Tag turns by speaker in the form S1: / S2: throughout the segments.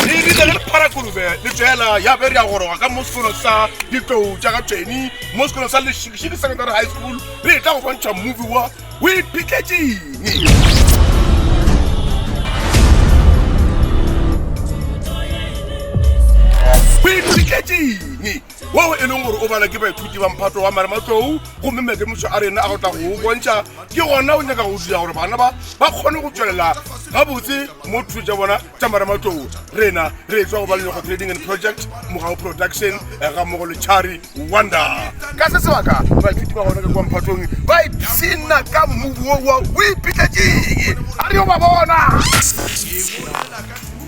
S1: re rile le parakolube le tsela ya be re ya goroga ka mo sekolo sa ditlou tša ka tsweni mo sekolo sa lešikešiki secondary high school re tla go bontšha movie wa o iphitlhetseng o iphitlhetseng woo e leng gore o bala ke baithuti ba mphato wa marematlou gomme maikemiso a rena a go tla go o bontšha ke gona o nyaka go dira gore bana ba ba kgone go tswelela gabotse mo thuto tša bona tša marematlou rena re etswa go balelego trading and project mogao production eh, ga mmogo le chari wonder ka se sebaka baithuti ba gona ka kwa mphatong ba ipshina ka mmubu wo wa o ipitlatseng a re yo ba bona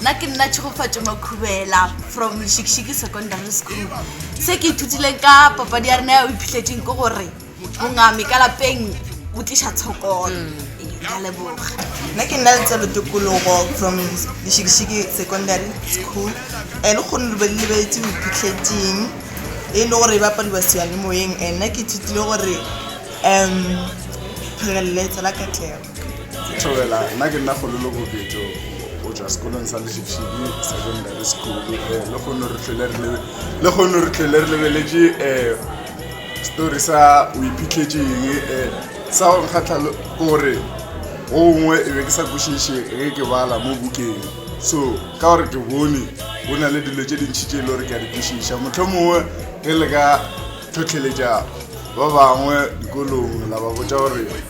S2: nna ke nna tšhegofatšo makhubela from lešikšiki secondary school se ke ithutileng ka papadi ya rena ya o iphitlhetseng ke gore mongame ka lapeng o tliša tshokolo ka leboga nna ke nna letselo
S3: tokologo from lešikešiki secondary school and le kgone lebe le lebeletse o iphitlhetseng e le gore e bapadiwa seyanimoyeng and nna ke ithutile gore um pheleletso la katlego Thobela,
S4: nna ke nna Kgololo Boketšo o tšwa sekolong sa Lešepšhidi Secondary School eh, le kgono re tlhole re lebe- le kgono re tlhole re lebeletše eh, story sa o iphitlhetše eng eh, sa go nkgatlha le- ke gore go gongwe e be ke sa kwešiše ge ke bala mo bukeng so ka gore ke bone go na le dilo tše dintšhi tše e le gore ke a di kwešiša motlho mongwe ge le ka tlhotlheletša ba bangwe dikolong la ba botša gore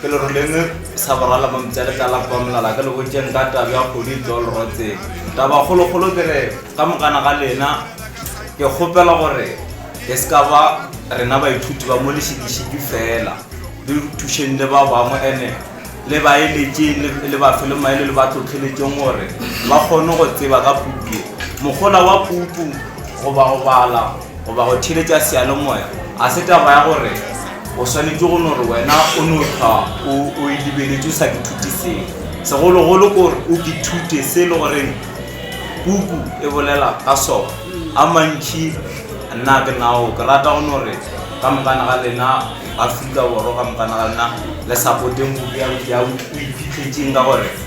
S5: ke le roleme sa borala mo mpša letala kwa molala ke le botšeng ka tabi ya kgodi tlo lerotseng taba kgolokgolo ke re ka mokana ga lena ke kgopela gore e se ka ba rena baithuti ba mo lešikešiki fela le thušeng le ba bangwe ene le baeletše le ba fe le maele le ba tlhotlheletseng gore ba kgone go tseba ka puku ye mogola wa puku goba go bala goba go theeletša seyalemoya ga se taba ya gore o swanetše go no re wena o no hlwa o o e lebeletše o sa ke thute selo segologolo ko gore o ke thute se e le goreng puku e bolela ka sona a mantšhi nna ke nao ke rata go no re ka mokana ga lena aforika borwa ka mokana ga lena le support-eng puku ya o iphitlhetseng ka gore